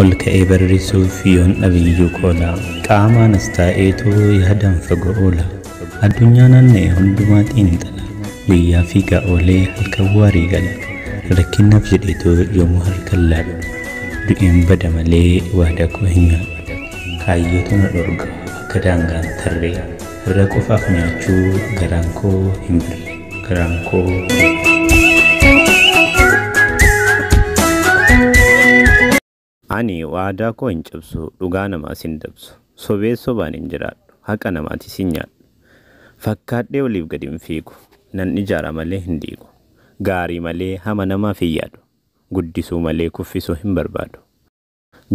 ol ka'ee barrisuuf yoon dhabiyyuu qoola qaamaanas taa'eetu yaadan fagoo oola addunyaa naanna'e hundumaa xiinxala guyyaa fiigaa oolee halkan waarii gala rakkinnaaf jedheetu yoomuu halkan laadhu du'een bada malee waadaa koo hin nyaadhu kaayyootu na dhorga akka daangaan tarree Irra qofaaf nyaachuu garaan koo hin bulle garaan koo. Ani waadaa koo hin cabsu dhugaa namaas hin dabsu sobees sobaan hin jiraadhu haqa namaatis hin nyaadhu fakkaadhee oliif gad hin fiigu nan ijaara malee hin diigu gaarii malee hama namaaf hin yaadu guddisuu malee kuffisuu hin barbaadu.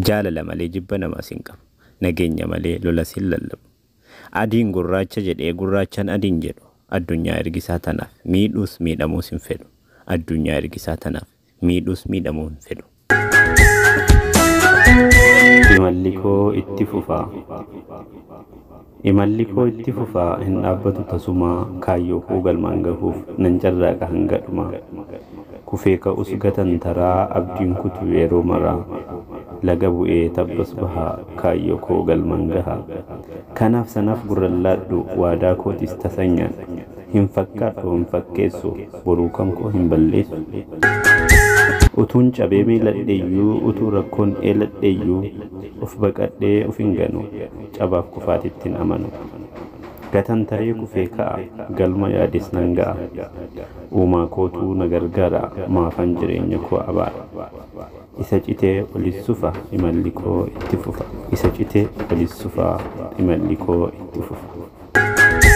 Jaalala malee jibba namaas hin qabu. Nageenya malee lolas hin lallabu. Adiin gurraacha jedhee gurraachaan adiin jedhu addunyaa ergisaa tanaaf miidhuus miidhamuus hin fedhu. Addunyaa ergisaa tanaaf miidhuus miidhamuu hin fedhu. Imalli koo itti fufa. Imalli koo itti fufa, hin dhaabbatu tasuma, kaayyoo koo galmaan gahuuf nan carraaqa hanga dhumaa. Kufee ka'us gatantaraa, abdiin kutu yeroo maraa. Laga bu'ee tabbas baha, kaayyoo koo galmaan gaha. Kanaaf sanaaf gurran laadhu, waadaa kootis tasan nyaadhu. Hin fakkaadhu hin fakkeessu, boruu kan koo hin balleessu. Utuun cabee miiladheyyuu, utuu rakkoon eeladheyyuu, of baqadhee of hin ganu. Cabaaf kufaatittin amanu. Gatan taree kufee ka'a galma yaades nan ga'a. Uumaa kootuu na gargaara maafan jireenya koo abaara. Isa citee olis sufa imalli koo itti fufa. Isa citee olis sufa imalli koo itti fufa.